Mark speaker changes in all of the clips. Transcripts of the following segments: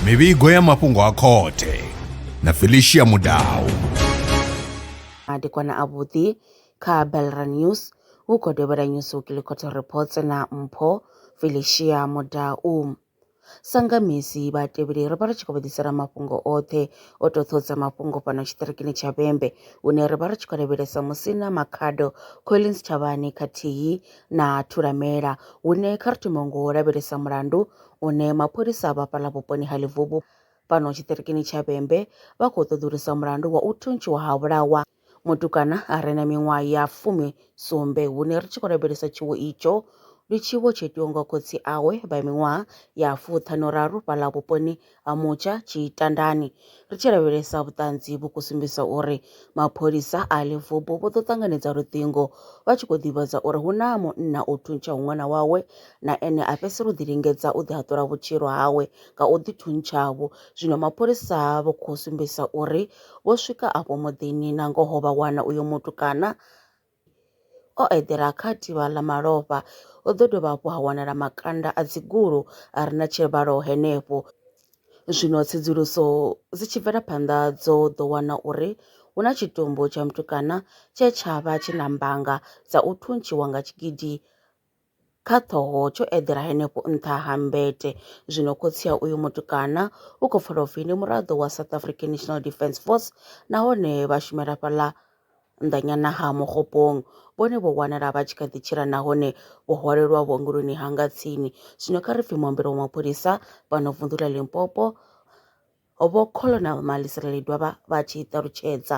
Speaker 1: mivhigo ya mafhungo a khothe na felicia mudau madekwana avhuḓi kha belra news hu khou dovhela news weekly court reports na mpho felicia mudau Sa nga misi, vhatevheli ri vha ri tshi khou vha ḓisela mafhungo oṱhe o toṱho dza mafhungo fhano tshiṱirikini tsha Vhembe hune ra vha ri tshi khou lavhelesa Musina Makhado, Collins Tshavhani khathihi na Thulamela. Hune kha ri thome ngo lavhelesa mulandu une mapholisa vha fhaḽa vhuponi ha Ḽivhubu fhano tshiṱirikini tsha Vhembe vha khou ṱoḓulusa mulandu wa u thuntshiwa ha vhulawa Mutukana a re na miṅwaha ya fumi sumbe hune ri tshi khou lavhelesa tshiwo itsho ndi tshiwo tsho itiwa nga khotsi awe vha miṅwaha ya fuṱhanu raru fhaḽa vhuponi ha mutsha tshitandani ri tshi lavhelesa vhuṱanzi vhu khou sumbedza uri mapholisa a ḽivubu vho ḓo ṱanganedza luṱingo vha tshi khou ḓivhadza uri hu na munna o thuntsha ṅwana wawe na ene a fhedzisela u ḓi lingedza u ḓi haṱula vhutshilo hawe nga u ḓi thuntshavho zwino mapholisa vho khou sumbedza uri Vho swika afho muḓini na ngoho vha wana uyo mutukana o eḓela kha tivha ḽa malofha. Ho ḓo dovha hafhu ha wanala makanda a dzigulu a re na tshivhalo henefho. Zwino tsedzuluso dzi tshi bvela phanḓa dzo ḓo wana uri hu na tshitumbu tsha mutukana tshe tsha vha tshi na mbanga dza u thuntshiwa nga tshigidi kha ṱhoho tsho eḓela henefho nṱha ha mbete. Zwino khotsi a uyu mutukana u khou pfala upfi ndi muraḓo wa South African National Defence Force nahone vha shumela fhaḽa nnḓanyana ha Mokgopong. Vhone vho wanala vha tshi kha ḓi tshila nahone vho hwalelwa vhuongeloni ha nga tsini. Zwino kha ri pfhi muambeli wa mapholisa fhano vunḓu ḽa Limpopo vho Colonel Malisela Ledwaba vha tshi ṱalutshedza.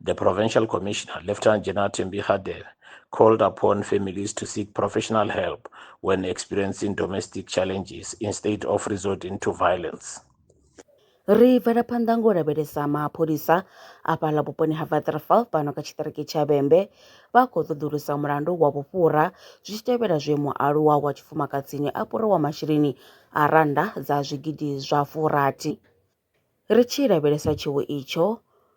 Speaker 1: The Provincial Commissioner, Lieutenant General Thembi Kgade, called upon families to seek professional help when experiencing domestic challenges instead of resorting to violence. ri bvela phanḓa ngo lavhelesa mapholisa a fhaḽa vhuponi ha vatrafal fhano kha tshiṱiriki tsha vhembe vha khou ṱoḓulusa mulandu wa vhufhura zwi tshi tevhela zwe mualuwa wa tshifumakadzini a fhuriwa masheleni a rannda dza zwigidi zwa furathi Ri tshi lavhelesa tshiwo itsho,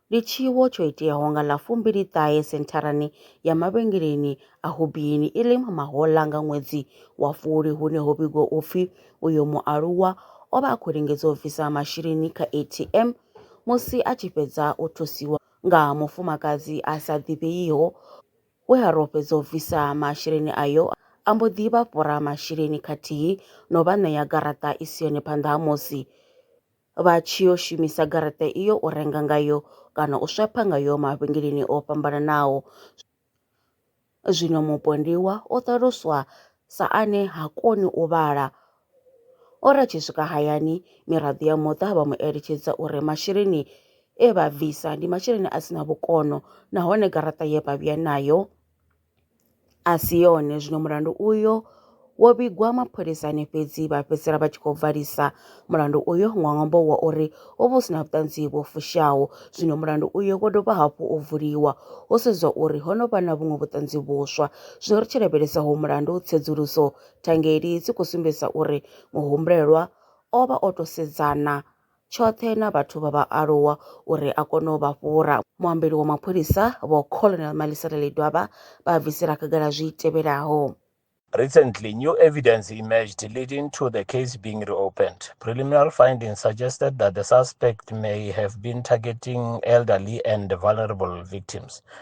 Speaker 1: ndi tshiwo tsho iteaho nga ḽa fumbili ṱahe sentharani ya mavhengeleni a Hobbyini i re Mahola nga ṅwedzi wa Fulwi hune ho vhigwa u pfi uyo mualuwa o vha a khou lingedza u bvisa masheleni kha ATM musi a tshi fhedza u thusiwa nga mufumakadzi a sa ḓivheiho We a ro fhedza u bvisa masheleni ayo, a mbo ḓi vha fhura masheleni khathihi no vha ṋea garaṱa i si yone phanḓa ha musi vha tshi yo shumisa garaṱa iyo u renga ngayo kana u swapha ngayo mavhengeleni o fhambananaho. Zwino mupondiwa o ṱaluswa sa ane ha koni u vhala O ri a tshi swika hayani, miraḓo ya muṱa vha mu eletshedza uri masheleni e vha bvisa ndi masheleni a si na vhukono nahone garaṱa ye vha vhuya nayo a si yone. Zwino mulandu uyo wo vhigwa mapholisani fhedzi vha fhedzisela vha tshi khou valisa mulandu uyo nga ṅwambo wa uri ho vha hu si na vhuṱanzi vho fushaho. Zwino mulandu uyo wo dovha hafhu u vuliwa ho sedzwa uri ho no vha na vhuṅwe vhuṱanzi vhuswa. Zwino ri tshi lavhelesa ho mulandu tsedzuluso Thangeli dzi khou sumbedzisa uri muhumbulelwa o vha o tou sedzana tshoṱhe na vhathu vha vhaaluwa uri a kone u vha fhura. Muambeli wa mapholisa, Vho Colonel Malisela Ledwaba, vha bvisela khagala zwi tevhelaho. Recently, new evidence emerged leading to the case being reopened. Preliminary findings suggested that the suspect may have been targeting elderly and vulnerable victims.